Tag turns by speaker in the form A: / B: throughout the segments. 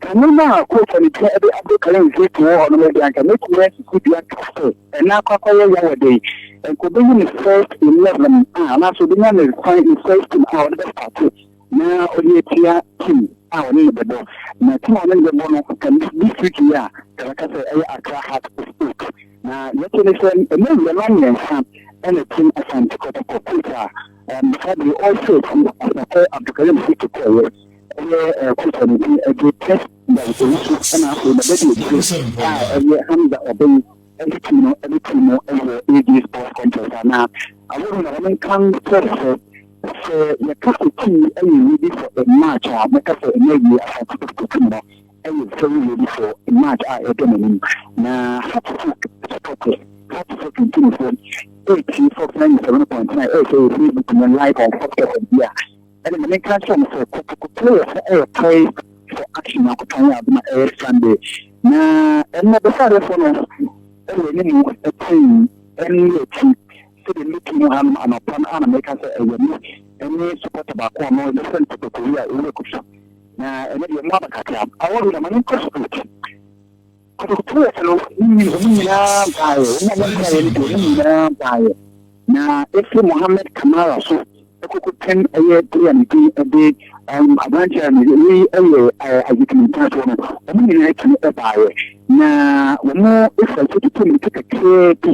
A: Kane no a Kofa ne Dua de aboro Karen Nzeitu wɔ hɔ no me de anka mɛtumi asi so dua ka sɛ ɛnna akɔ akɔyɛ ya wɔ dɛn? Anka ɔbɛyi ne first eleven a anaasɛ ɔbɛnya ne fan ne first team a ɔde bɛstarte na ɔde atua team a ɔne no bɛbɔ na team a ɔne no bɛbɔ no ka ne district yi a ka bɛka sɛ ɛyɛ Accra Heart of Oak na deɛ ɛte ne sɛ ɛnna awurama mmiɛnsa ɛna team Asante Kɔtɔkɔ Kofa, um, Fabio All Sets, Asafo Abdulkarim Nzeitu kɔɔyɛ. Ɛyɛ Kusa ne din de Tess Mbang Owusu ɛna afei ne bɛde akyire a ɛyɛ Hamza Obeng ɛde tim no ɛde tim no ɛwɔ AJ Sports Complex a na awɔre na wɔn nkan kyerɛ sɛ sɛ yɛka sɛ tim yi ɛyɛ ready for a match a mɛka sɛ ɛna awie Asante Kotoko tim no ɛyɛ very ready for a match a ɛda n'anim na Hatfo Sotɔkɔ Hatfo Tuntumfoɔ ɛretie Fox 97.9 ɛresɛ yɛ Facebook no live on Fox FM bi a Ɛna ma menka nkyerɛ mo sɛ, kɔtɔkɔtɔ yɛ sɛ ɛyɛ poised for action Nyankopɔn yɛ adom a ɛyɛ Sunday. Na ɛnnɛ bɛsɛadeɛfoɔ no wɔ animu tee ɛnne akyi sɛdeɛ mɛtu mu hanom anɔpa no a na meka sɛ ɛyɛ me ɛne supporter baako a ɔno yɛfrɛ no Toto Kowi a ɔwɔ Akusu. Na ɛnɛ deɛ moaba kakra. Awɔre na ma menkɔ straight. Akotoeɛ no, wɔn nyinaa baeɛ, wɔn a wɔbaeɛ no deɛ wɔn nyinaa baeɛ, na ɛfiri Mohamed Camara so kɔkɔpem ɛyɛ player ne din de um, aberanteɛ a ne wei ɛyɛ Isaac Mintaafoɔ no, wɔn nyinaa tumi ɛbaeɛ, na wɔn ɛfira sɛ tutu mmirika kakraa bi,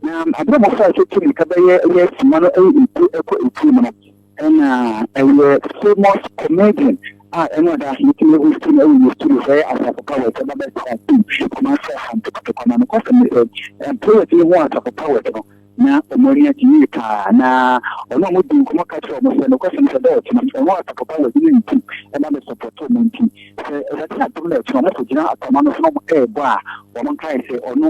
A: na aberɛ a wɔfira sɛ tutu mmirika bɛyɛ ɛyɛ sima no ɛyɛ etu ɛkɔ etuo mu no, Ɛna ɛyɛ famous comedian a ɛna ɔda ase yɛtumi ahu sɛ na ɛwɔ yɛ studio sɛ ɛyɛ asafo powers ɛba bɛ tena tum kuma sɛ ha ntokotokɔ na nokɔ sɛ mesɛ employers yi ho asafo powers no na ɔmo ani agye yie paa na ɔno ɔmo di nkɔmɔ ka kyerɛ ɔmo sɛ nokɔ sɛ mesɛ dɛ ɔtena ɔmo asafo powers ne nti ɛba bɛ support ɔmo nti sɛ ɛbɛte atom na ɛtena ɔmo kɔ gyina atama no so na ɔmo ɛɛbɔ a ɔmo nkae sɛ ɔno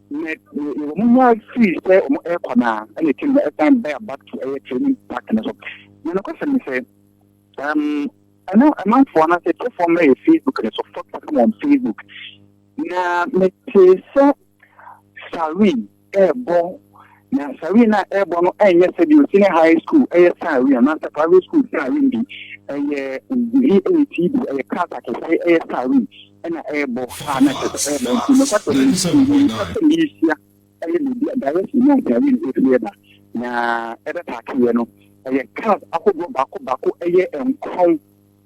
A: Nɛ wɔn mu ara firi sɛ wɔn rekɔ no ara, ɛna akyire no ɛsan baa back to ɛyɛ training park no so. Na nokwasɛm ne sɛ, um, ɛno ɛmanfoɔ no asɛ tiefoɔ mmra yɛ Facebook no so, focus them on Facebook. Na metee sɛ Sarin ɛrebɔ, na Sarin a ɛrebɔ no ɛnyɛ sɛ deɛ senior high school ɛyɛ Sarin anaasɛ private school Sarin bi, ɛyɛ VATB, ɛyɛ class akɛseɛ ɛyɛ Sarin. na ɛrebɔ a na ɛsɛ sɛ ɛreba nti, nokwasɛm no nti, mempɛ sɛ merehyia ɛyɛ biribi a direction no nka yɛ no ɛfiri ɛba na ɛbɛpaakeeɛ no ɛyɛ cars ahodoɔ baako baako ɛyɛ nkron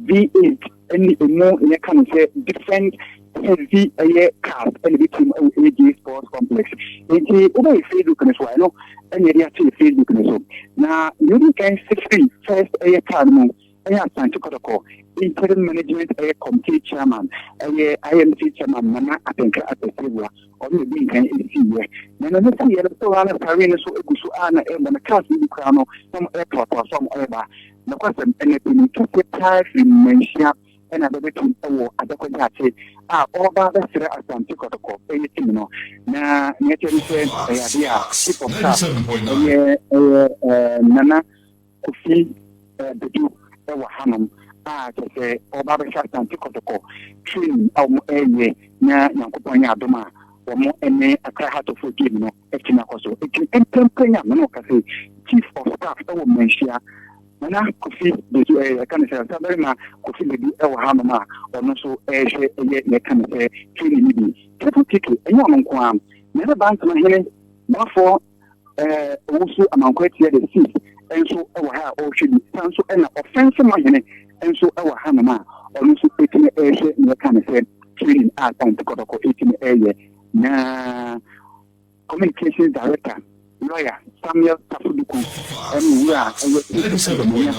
A: V8 ɛne ɛmu yɛ ka no sɛ different heavy ɛyɛ cars ɛne bɛtum ɛwɔ AJ Sports Complex nti wobɛyɛ Facebook no so a ɛno ɛne ɛde akyɛ Facebook no so na yɛdi kan sɛ firi first ɛyɛ car no mu Ɛyɛ Asante Kɔtɔkɔ Interim Management ɛyɛ Committee Chairman ɛyɛ IMC Chairman Nana Atenka Akwasiabua ɔno na ɔdii nkan siiɛ. Na na ne siiɛ no store a na Sarwee no so gu so a na ɛrebɔ no cars no bi koraa no na wɔn ɛretoatoa so a wɔn ɛreba. Nokwasɛm, ɛna panin kɛseɛ paa firi Manhyia ɛna bɛbɛto wɔ Adako Gyaakye a ɔreba abɛsrɛ Asante Kɔtɔkɔ ɛyɛ team no. Na nea ɛkyerɛ ne sɛ ɛyɛ adeɛ a Chief of Staff ɛyɛ ɛyɛ ɛɛ Nana Kofi Bodu wɔ hanom a kyerɛ sɛ ɔreba abɛhwɛ Asante Kɔtɔkɔ training a wɔn reyɛ na Nyankopɔn yɛ adom a wɔn ne Accra Heart of Oak game no atumi akɔ so. Enti mprempren a me ne wo kasa yi, Chief of Staff wɔ Manhyia, Nana Kofi Bodu ɛɛ yɛka no sɛ Ɔsabarima Kofi Bodu wɔ hanom a ɔno nso rehwɛ ɛyɛ yɛka no sɛ training no bi. Triple Tiki, ɛnyɛ ɔno nko ara na ɛbɛba Nsema Hene Boafo eh, owusu amankwɛ tiɛ de si nso wɔ ha a ɔrehwɛ bi san nso ɛna ɔfɛnse ma hene nso wɔ ha nom a ɔno nso ɛtumi ɛrehwɛ ne ɛka ne sɛ training a ɔntokɔtɔkɔ ɛtumi ɛreyɛ na communication director lawyer samuel tafoduku ɛne wura ɛyɛ ɛdɛmɛnya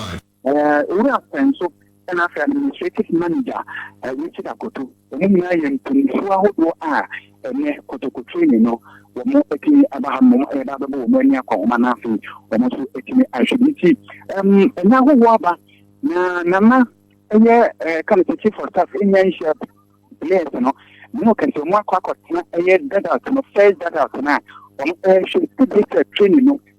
A: Owura Akwanso na afei Administrative Manager Richard Akoto, wɔn nyinaa yɛ mpanyinfoɔ ahodoɔ a ɛnɛ Kotoko Training no wɔn atumi aba ha nom ɛba abɛbɔ wɔn ani akɔnhoma na afei wɔn nso atumi ahwɛ bi nti ɛnya ahohoɔ aba na nana ɛyɛ ɛka no sɛ chief of staff ɛnya nhyia players no ne no kɛse wɔn akɔ akɔtena ɛyɛ dugout no first dugout no a wɔn ɛhwɛ sɛ training no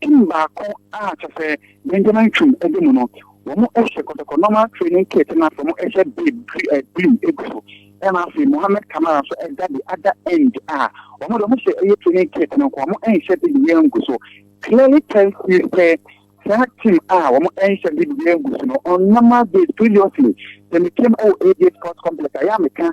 A: Tim baako a kyerɛ sɛ Benjamin Twum di mu no, wɔhyɛ kɔtɔkɔ normal training kit na afei wɔhyɛ babe blue gu so ɛna afei Mohammed Kamara nso da the other end a wɔn de wɔhyɛ ɛyɛ training kit no nko wɔnhyɛ de bibiara ngu so clearly tells you sɛ saa team a wɔnhyɛ de bibiara ngu so no on normal days previously sɛ metam ɛwɔ AJ Sports Complex a yɛ a meka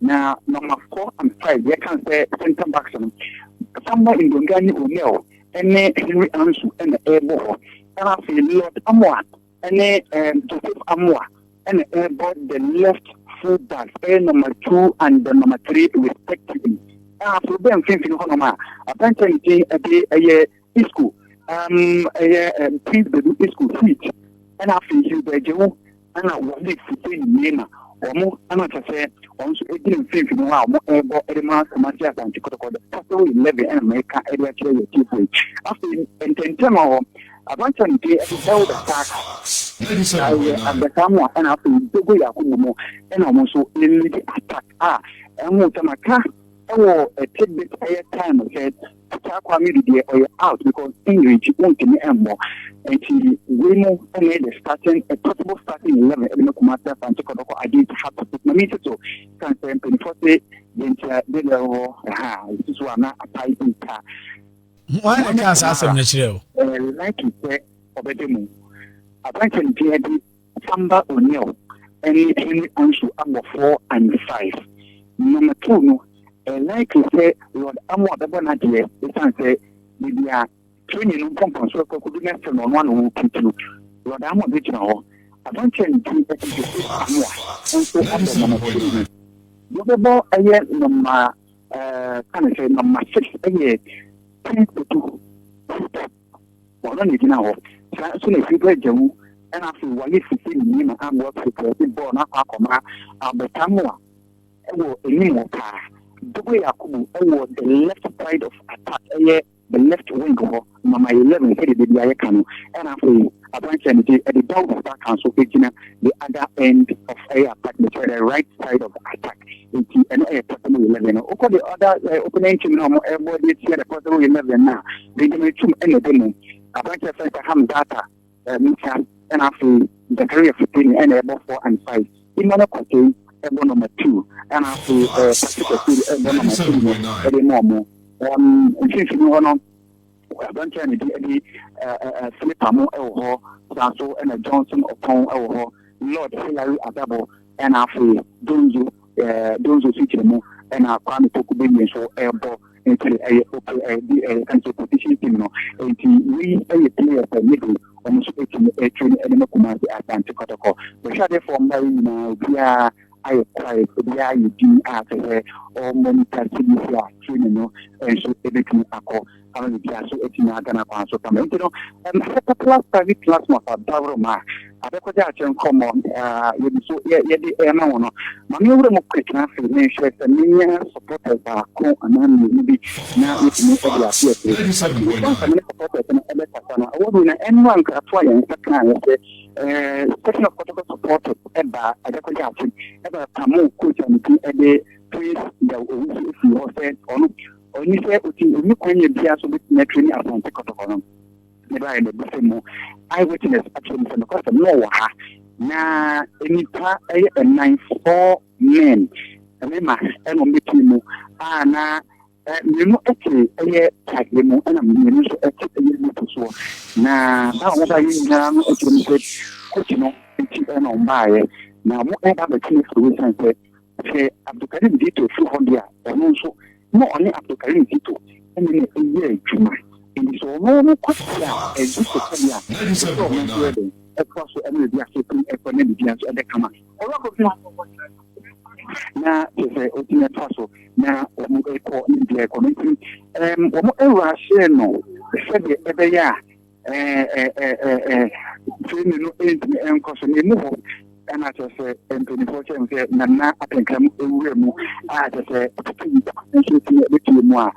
A: Na nɔmafo ampa yi, yɛka no sɛ center backs no, Samuel Ndonga ne O'Neill ne Henry Ansu na ɛrebɔ hɔ. Ɛna afei Lord Amoah ne um, Joseph Amoah na ɛrebɔ the left full backs, ɛyɛ number two and the number three respectively. Ɛna afei bɛ mfimfini hɔnom a, abɛnta ne din ɛde ɛyɛ Isco, um, ɛyɛ um, Prince Bedu Isco suite, ɛna afei Hilbert Jewu, ɛna Walid Hussein Meema, wɔn ɛna kyɛ sɛ wɔn nso gyina mfimfini hɔ a wɔn ɛrebɔ ɛde ma Kumasi Asante Kɔtɔkɔtɔ Capital Eleven ɛna mɛka ɛde akyerɛ yɛ tiefo yi. Afei ntɛntɛm hɔ, aberanteɛ no din ɛde Elder Parks, ɛyɛ abɛka mu a ɛna afei Dogo Yakubu mu ɛna wɔn nso ɛlidi attack a ɛho sɛ maka ɛwɔ ɛtidbit ɛyɛ time sɛ Ataa Kwamedy deɛ ɔyɛ out because English wontumi mmɔ nti wei mu na yɛ the starting a possible starting eleven ɛde ma Kumasi Asante Kɔtɔkɔ against Hato but mami nso so kan sɛ mpanyinfoɔ se deɛ nti a deɛ deɛ wɔ ɛha a ɛsi so a na apae bi nta. Wɔn na
B: ɛka saa asɛm no kyerɛ o. Ɛɛ like sɛ
A: ɔbɛde mu aberanteɛ no din adi. Samba O'Neal ne Henry Ansu abɔ four and five na ma two no ɛyɛ likely sɛ Lord Amoah bɛbɔ n'adeɛ ɛsiane sɛ baabi a Training no mpɔmpɔnsoɔ rekɔ akɔdu no ɛsɛ no ɔno ara na ɔwɔ puturu. Lord Amoah bɛgyina hɔ. Aberanteɛ a ne din de Joseph Amoah nso abɔ Mama Twum no. Wɔbɛbɔ ɛyɛ nɔma ɛɛ ka ne sɛ nɔma six ɛyɛ Prince Kpetu Football. ɔno na gyina hɔ saa nso na fiba agya wu ɛna afei wayɛ fifi ne nneɛma abɔ fitrɛ de bɔɔ no akɔ akɔma abotam a ɛwɔ anim hɔ paa dogo yakubu ɛwɔ the left side of attack ɛyɛ the left wing hɔ mama 11 sɛde de bi ayɛ ka no ɛna afei aberanteɛ no gye ɛde dawuro back nso gyina the other end of ɛyɛ attack no kyerɛ the right side of attack Nti ɛno ɛyɛ possible eleven no. Wokɔ the other uh, opponent team na wɔn ɛbɔ de atia the possible eleven na Benjamin Tum ɛna ɛbɛ mu. Aberanteɛ fɛn sɛ Hamzata, uh, Musa ɛna afei Zakaria Futeni ɛna ɛbɔ four and five. Emmanuel Kwatei ɛbɔ number two ɛna afei uh, Patrick Ofiri ɛbɔ number three no ɛde ma wɔn. Um, mfimfini hɔ no. Aberanteɛ a ne din de Philip Amu wɔ hɔ, saa nso na Johnson Opong wɔ hɔ, Lord Hillary Adabo ɛna afei Donzo Donzo Sikyirimmu ɛna Kwame Poku Beyie nso ɛbɔ nti ɛyɛ ɛyɛ nso position team no nti wei ɛyɛ players a yɛde wɔn nso ɛtumi ɛtumi ɛde ma Kumasi Asante Kɔtɔkɔ bɛhwɛ adefoɔ mmaa yi nyinaa obiara ayɛ kwae, obiara ayɛ dinn a kyerɛ sɛ ɔremmɔ ne ta sini so a, training no nso betumi akɔ ama biribiara nso atumi ada n'akwan so kama. Enti no, ɛma sɛ popular private classmates a dawurom a abɛkɔgye akyɛ nkɔmmɔ a yɛde so yɛde ɛrema wɔn no, ma me nwura mu quick na afei menhwɛ sɛ menya supporters baako anaa mmienu bi na yɛtumi de ate akyire. Nti, response a me ne supporters no bɛkasa no, award winner, ɛmmra nkratoɔ a yɛn nsa kaeɛ sɛ The question of Kotoko support ɛba Adekoya ase ɛba Pamo coach a ne ti ɛde Prince Yaw Owusu efiri hɔ sɛ ɔno ɔni sɛ oti ɔni kwan yɛ bia so bɛtumi atwere ne Asante Kotoko no ne ba yɛ na ebi sɛ mu eye witness akyerɛ mu sɛ no kɔsɛm na ɔwɔ ha na nnipa ɛyɛ ɛnan four men mmarima ɛna ɔmo bɛtumi mu a na Mmienu te ɛyɛ tadeɛ mu ɛna mmienu nso te ɛyɛ moto soɔ. Na baa a wɔbaeɛ nyinaa no kyerɛ mu sɛ koti no nti ɛna wɔn baeɛ. Na wɔn ɛba abɛte no afiri wɔ san sɛ sɛ Abdulkarim Zito firi hɔ deɛ a ɔno nso na ɔne Abdulkarim Zito ɛna na ɛyɛ adwuma. Ɛnti sɛ ɔno no kɔte a Zito sɛdeɛ a ɛsɛ ɔno nso yɛ dɛn ɛtoa so ɛna ɛdi ase ɛkɔ na biribiara nso ɛbɛ kama. na kyerɛ sɛ ɔtumi atoa so na wɔn ɛkɔ ne deɛ ɛkɔ no nti ɛɛm wɔn ɛwɔ ahyɛ no sɛdeɛ ɛbɛyɛ a ɛɛ ɛɛ ɛɛ tirinwi no ɛntumi ɛnkɔ so na emu hɔ ɛna kyerɛ sɛ mpanimfoɔ kyerɛ mu sɛ nana akankan mu ewura mu a kyerɛ sɛ ɛtutu nso tumi ɛbɛtumi mu a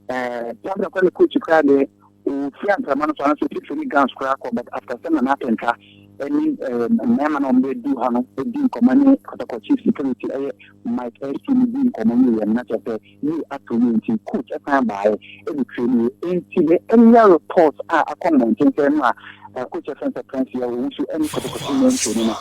A: ɛɛ kyerɛ sɛ kɔ ne kɔ akyi koraa deɛ. Ofiri anframa no so anaasɛ ofifiri ne gowns koraa kɔ but after sɛ Nana Atenka ɛne mmarima na wɔn bɛ du hɔ no di nkɔmɔ ne Kɔtɔkɔ chief security ɛyɛ Mike Erskine no di nkɔmɔ wie yɛ no na kyɛ sɛ yie ato yie nti coach ɛsan baayɛ ɛde train yɛ nti ne ɛnya report a akɔ mmɔnten sɛ ɛno a coach ɛfɛn sɛ Prince yɛ wɔn nso ɛne Kɔtɔkɔ team ɛntraini no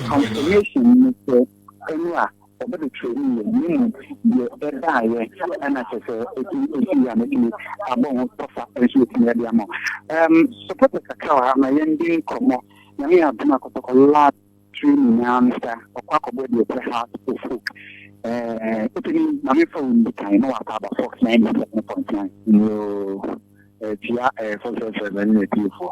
A: confirmation ne sɛ ɛno a Wɔbɛbɛtwerɛ mu yɛ, na mmom deɛ ɛbaeɛ, ɛna kyerɛ sɛ ɛtumi ɛsii a mɛtumi abɔ ho tɔfa nso atumi ade ama wo. Ɛm, sopɔtɛ kakra wɔ ha ma yɛndi nkɔmmɔ. Nyame yɛ adom a Kɔtɔkɔ lab tiri nyinaa no sa, ɔkɔ akɔbɔ deɛ ɛkyɛ Heart of Oak. Ɛɛ, wotumi, ma memfa wo ndi kan na wakɔ aba Fox 97.9. Yoo, ɛɛ, tia ɛɛ Fox FM ne n'atiefoɔ.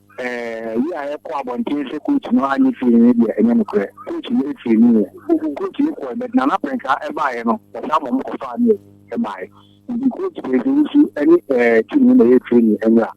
A: Ɛɛ yi a yɛkɔ abɔnten sɛ coach no annye firi no deɛ ɛnyɛ nokorɛ. Coach no firi no yɛ. Coach no kɔɛ but Nana Prɛnka baeɛ no ɔsan mom kɔfaa no baeɛ. Nti coach Prɛnka yi nso ɛne ɛɛ team no na ɛyɛ training ɛmmra.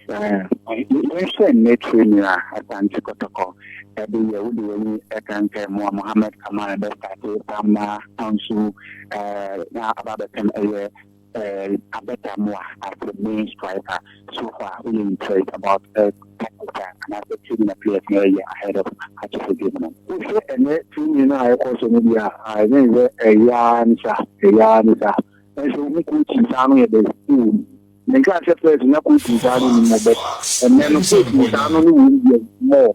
A: Ɛɛ yɛnhwɛ nnɛ training a Asante Kɔtɔkɔ ɛde yɛ wode w'ani ɛka nka ɛmoa Mohammed Kamara bɛ starte Bamma Ansu ɛɛ na aba abɛpem ɛyɛ Err abɛdamo a as a main striker so far woyɛ impressed about err tactics a anaasɛ training a players no ɛyɛ ahead of Akyɛfo game no? Wohwɛ ɛnɛ training no a ɛkɔ so no deɛ a I think sɛ ɛyɛ ara ne sa ɛyɛ ara ne sa nso wohu coaching saa no yɛ dɛ wɔ mu. Menkaa sɛ first na coaching saa no nni mu but ɛnɛ no coaching saa no no wɔ mu deɛ more.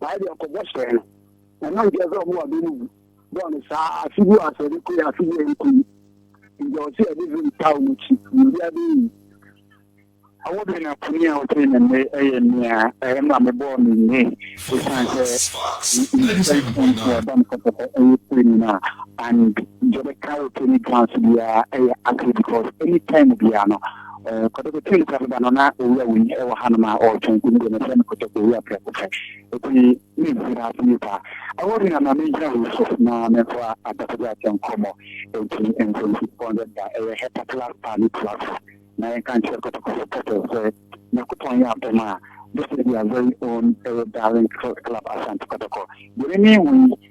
A: Saa deɛ ɔkɔbɔ hyɛɛ no. Ɛno nkyerɛ sɛ ɔmo wɔ bɛ no gu bɔɔ no saa afe gu asɛ de koe afe yi a ɛrekɔ yi nti ɔse ɔde vim taw no kyi biribiara bɛyɛ yi. Awo bɛn na kumi a ɔtee me nne yɛ nea ɛyɛ ma mebɔɔ me nne esiane sɛ me nsɛmfua nti a ɛba me kasa sɛ ɛyɛ pere mu no a and deɛ ɛbɛka wo Tony Brown so biara yɛ accurate because any time biara no Ɔɔ kɔtɔkɔ tum kura me ba no na owura wei wɔ ha nom a ɔɔtɔn tum deɛ mɛfrɛ no kɔtɔkɔ owura prɛko pɛ eti me nhu na ase nipa ɛwɔ hena na me ngyina wei so na me nfa adakɔgya akyɛ nkɔmɔ eti nso nsi two hundred da ɛyɛ hɛta class paa ne tua so na yɛ nka nkyerɛ kɔtɔkɔ so pɛpɛ sɛ Nyankopɔn yɛ adom a this is their very own ɛyɛ darling club Asante kɔtɔkɔ deɛ me me hu yi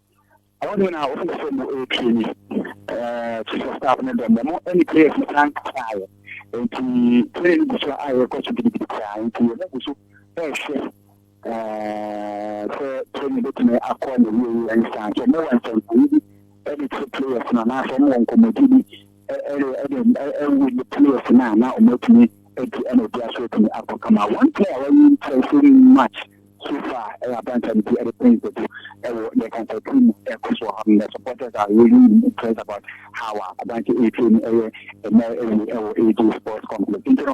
A: Ɔwɔ dɛn na ɔfo sɛ mo ɛretwi ni? Chief of staff no dɛm, ɔmo ɛne prayers no san kasaeɛ. Nti training no gu so a ɛrekɔ so gidigidi koraa. Nti ɔmo gu so ɛrehwɛ sɛ training bɛtumi akɔ n'awieɛ ansa. Nti ɔmo wɔ nsɛnkyerɛnne bi ɛde kyerɛ players no anaasɛ ɔmo wɔ nkɔmmɔdie bi Ɛyɛ dɛn na ɛwo ne players no a na wɔn atumi adi ɛna obiara so atumi abɔ kama. One player a wayi ntɛn so much so far ɛyɛ abranteɛ no ti ɛde Prince Dadu ɛwɔ yɛ kansa team mu ɛkɔ so wɔ hɔ no. Supporters are really impressed about how a abranteɛ ɛretrain ɛyɛ ɛnɛ ɛwei ɛwɔ AJ Sports Complex nti no.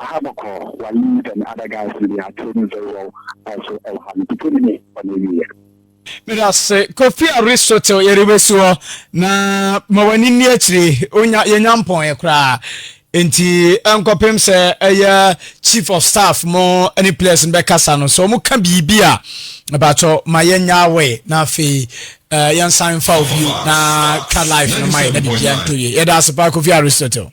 A: Aha bɔkɔɔ wa leaves and other guys no they are trading very well
B: also ɛwɔ ha no pike no nie ɔne awieɛ. Medase Kofi Aristotle yɛde bɛsi hɔ na ma w'ani nni akyiri onya yɛnya mpɔn koraa nti nkɔpem sɛ ɛyɛ chief of staff mo ne players no bɛkasa no sɛ ɔmo ka biribi a ɛbɛatɔ ma yɛnya away na afei uh, yɛnsan mfa obi na ka life no ma yɛ na biribiara ntɔ yie yɛda ase paa Kofi Aristotle